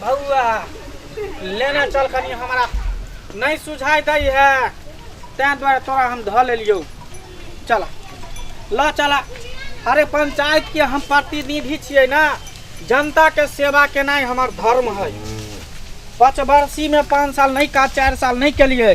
बउआ लेने चल कनी हमरा नहीं सुझाई दै है तैं द्वारा तोरा हम धऽ लेलियौ चला ल चला अरे पंचायत के हम प्रतिनिधि छियै ना जनता के सेवा केनाइ हमर धर्म है पाँच वर्षी में पाँच साल नहीं का चार साल नहीं केलियै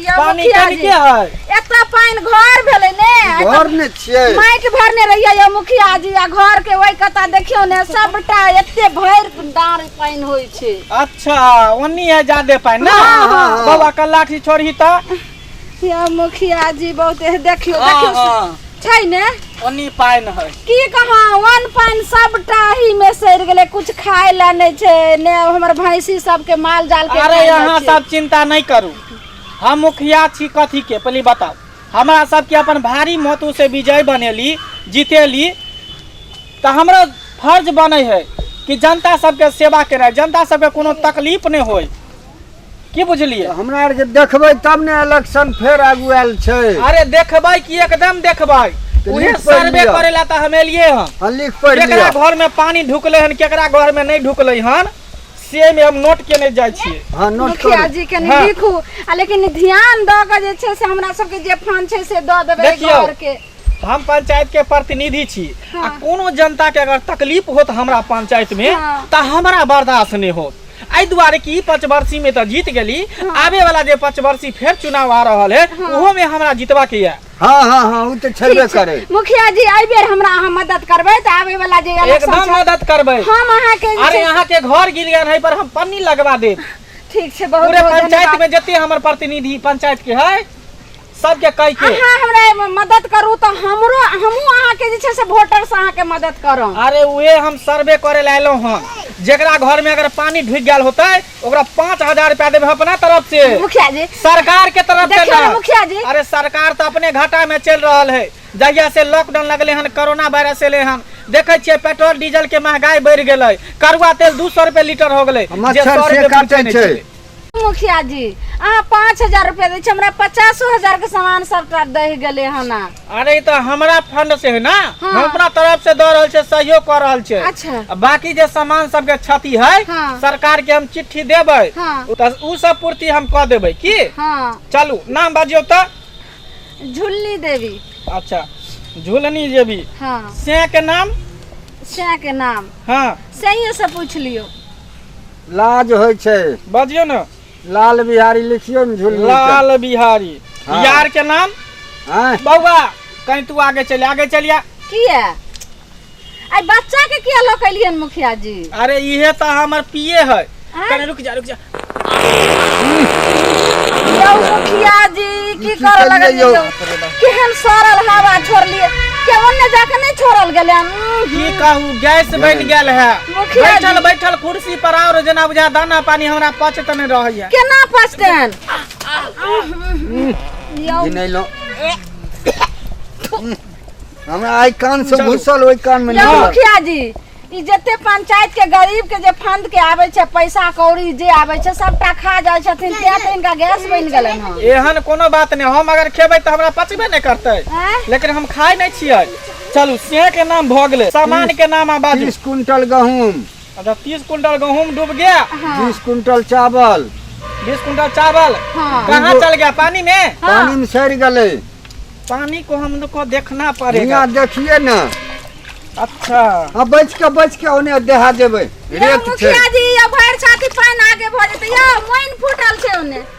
यौ पानी मुखिया कनि जी के है एतऽ पानि घर भेलै ने एतऽ घर ने छियै माटि भरने रहियै यौ मुखिया जी आ घर के ओहि कता देखियौ ने सबटा एते भरि डाँड़ पानि होइ छै अच्छा ओनी है जादे पानी ना हाँ, हाँ, हाँ। बाबा का लाठी छोड़ी तो यौ मुखिया जी बहुत देखियौ देखियौ छै ने ओनी पानि है की कहाँ वन पानि सबटा ही में सड़ गेले कुछ खाए ला नहीं छै ने हमर भैंसी सबके माल जाल के अरे खाए ला यहाँ छै। सब चिंता नहीं करू हम मुखिया छी कथी के पहले बताओ हमरा सबके अपन भारी महत्व से विजय बनेली जीतेली तो हमरा फर्ज बने है कि जनता सबके सेवा करे जनता सबके कोनो तकलीफ नहीं होय की बुझलिए हमरा आर के देखबै तब ने इलेक्शन फेर आगू आयल छै अरे देखबै कि एकदम देखबै तो उहे सर्वे करे ला त हम एलिए हन हां लिख पढ़ लिया केकरा घर में पानी ढुकले हन केकरा घर में नहीं ढुकले हन से में हम नोट केने जाय छी हां नोट कर मुखिया जी के नहीं हाँ। लिखू आ लेकिन ध्यान द के जे छै से हमरा सब के जे फंड छै से द देबे घर के हम पंचायत के प्रतिनिधि छी हाँ। आ कोनो जनता के अगर तकलीफ होत हमरा पंचायत में हाँ। त हमरा बर्दाश्त नहीं होत एहि दुआरे कि ई पंचवर्षी में तो जीत गेली आवे वाला जे पंचवर्षी फेर चुनाव आ रहल है ओहो में हमरा जीतवा के है हाँ हाँ हाँ उ तो छेबे ठीक छै। करे मुखिया जी एहि बेर हमरा अहाँ मदद करबै तऽ आबै वाला जे इलेक्शन एकदम छै मदद करबै हम अहाँके जे अरे छै- यहाँ के घर गिर गया है पर हम पन्नी लगवा देब ठीक छै बहुत पूरे बहुत पंचायत धन्यवाद में जते हमर प्रतिनिधि पंचायत के है सबके कहि के अहाँ हमरा एहिमे मदद करू तऽ हमरो हमहूँ अहाँके जे छै से वोटरसँ अहाँके मदद करब अरे उहे हम सर्वे करे ला एलहुँ हँ जेकरा घर में अगर पानी ढुक गया होता है ओकरा पाँच हजार रुपया देवे अपना तरफ से मुखिया जी सरकार के तरफ से देखियौ ने ना। मुखिया जी। अरे सरकार तो अपने घाटा में चल रहल है जहिया से लॉकडाउन लगले हन कोरोना वायरस एले हन देखे छियै पेट्रोल डीजल के महंगाई बढ़ गेलै करुआ तेल दू सौ रुपए लीटर हो गेलै जे मच्छर सौ से रुपए पहुँचै काटै नहि छै। छलै। मुखिया जी अहाँ पाँच हजार रुपया दै छी हमरा पचासो हजार के सामान सबटा दहि गेलै हन आ। अरे ई तऽ हमरा फंड से है ना हाँ। हम अपना तरफ से दऽ रहल छै सहयोग कऽ रहल छै अच्छा आ बाकी जे सामान सबके क्षति है हाँ। सरकार के हम चिट्ठी देबै हाँ तऽ उ सब पूर्ति हम कऽ देबै की हाँ चलू नाम बाजियौ तऽ झुल्ली देवी अच्छा झुलनी जेबी हाँ से के नाम सैह के नाम हाँ सैये से पूछ लियो लाज होइ छै बजियो ने लाल बिहारी लिखियो ने झुल लाल बिहारी हाँ। यार के नाम हाँ। बउआ कहीं तू आगे चले आगे चलिया किया आई बच्चा के किया लकलियन मुखिया जी अरे इहे तो हमर पिए है कने रुक जा रुक जा यो मुखिया जी की कर लगल यो केहन सरल हवा छोड़ लिए केवन ने जाके नहीं छोड़ल गेले की कहू गैस बन गेल है मुखिया जी बैठल बैठल कुर्सी पर और जेना बुझा दाना पानी हमरा पचत नहि रहैया केना पचतैन यौ ई नहि लो हमरा आइ कान से घुसल ओहि कान मे यौ नहि मुखिया जी ई जते पंचायत के गरीब के जे फंड के आबै छै पैसा कौड़ी जे आबै छै सबटा खा जाइ छथिन तें तऽ इनका गैस बनि गेलनि हँ एहन कोनो बात नहि हम अगर खेबै तऽ हमरा पचबे नहि करतै आँय? लेकिन हम खाइ नहि छियै चलू से के नाम भऽ गेलै सामान के नाम आ बाजू तीस कुंटल गहूम अच्छा तीस कुंटल गहूम डूब गया हाँ बीस कुंटल चावल बीस कुंटल चावल हाँ कहाँ चल गया पानी में हाँ पानी में सड़ गए पानी को हम लोग को देखना पड़ेगा यहाँ देखिए ना अच्छा अब बच के बच के ओने देहा देवे यौ रेत छै मुखिया जी यौ भरि छाती पानि आगे भऽ जेतै यौ मोइन फूटल छै ओने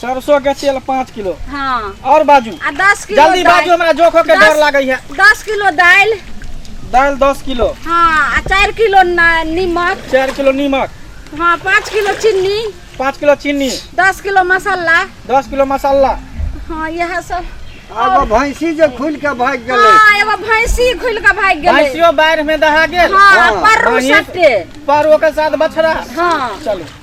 सरसों के तेल पाँच किलो हाँ और बाजू आ दस किलो जल्दी बाजू हमरा जोखो के डर लागे है दस किलो दाल दाल दस किलो हाँ चार किलो नीमक चार किलो नीमक हाँ पाँच किलो चीनी पाँच किलो चीनी दस किलो मसाला दस किलो मसाला हाँ यह सब एगो भैंसी जे खुल के भाग गेल हां एगो भैंसी खुल के भाग गेल भैंसियो बाढ़ में दहा गेल हां पर सटे पर ओकर साथ बछड़ा हां चलो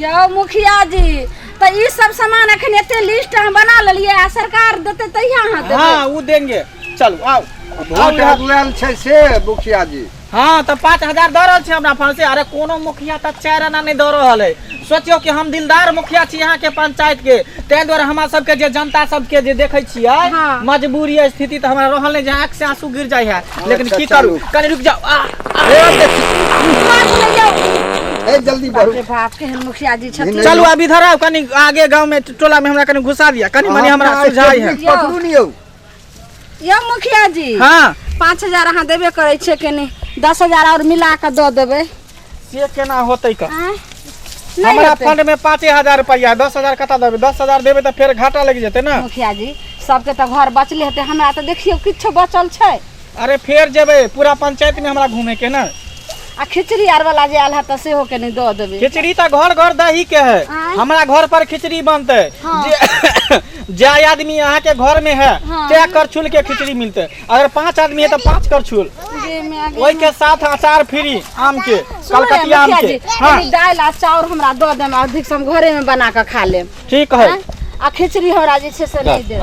यौ मुखिया जी तऽ ई सब सामान एखन एते लिस्ट हम बना लेलियै आ सरकार देतै तहिया अहाँ देबै हाँ वो देंगे चलो आओ आओ वोट यहाँ। अगुआएल छै से मुखिया जी हाँ तो पाँच हजार दऽ रहल छै हमरा फल से अरे कोनो मुखिया तऽ चारि आना नहि दऽ रहल है सोचियो कि हम दिलदार मुखिया छी यहाँ के पंचायत के ताहि दुआरे हमरा सबके जे जनता सबके जे देखै छियै हाँ। मजबूरी स्थिति तऽ हमरा रहल नहि जे आँख से आंसू गिर जाइ है हाँ, लेकिन अच्छा, की करू चलू। कनी रुक जाओ आ, आ, ए, देखी। ए जल्दी बाप बढ़ू रे बाप के हम मुखिया जी छथिन चलू अब इधर आओ कनी आगे गांव में टोला में हमरा कनी घुसा दिया कनी मनी हमरा हाँ, सुझाई है टेबलेट पकड़ू नहीं हो यो मुखिया जी हाँ पाँच हजार अहाँ देबे करै छियै कनी दस हजार और मिला कऽ दऽ देबै से केना होतै का आँय? नहि हमरा हेतै। फंड में पाँचे हजार रुपया दस हजार कतऽ देबै दस हजार देबै तऽ फेर घाटा लागि जेतै ने मुखिया जी सबके तऽ घर बचले हेतै हमरा तऽ देखियौ किछो बचल छै अरे फेर जेबै पूरा पंचायत में हमरा घूमे के ने आ खिचड़ी आर वाला जे आयल है तऽ सेहो के नहि दऽ देबै खिचड़ी तऽ घर घर दही के है आँय? हमरा घर पर खिचड़ी बनतै हाँ। जे जाय आदमी अहाँ के घर में है हाँ। तय करछुल के खिचड़ी मिलतै अगर पांच आदमी है तो पांच कर छुल जे मैं आगे ओई के साथ अचार फ्री आम के सुनो रे, कलकतिया आम मुखिया के जी, हाँ कनी दालि आ चाउर हमरा दऽ देम अधिक से हम घरे में बना कऽ खा लेम ठीक है हाँ? आ खिचड़ी हमरा जे छै से नहि देब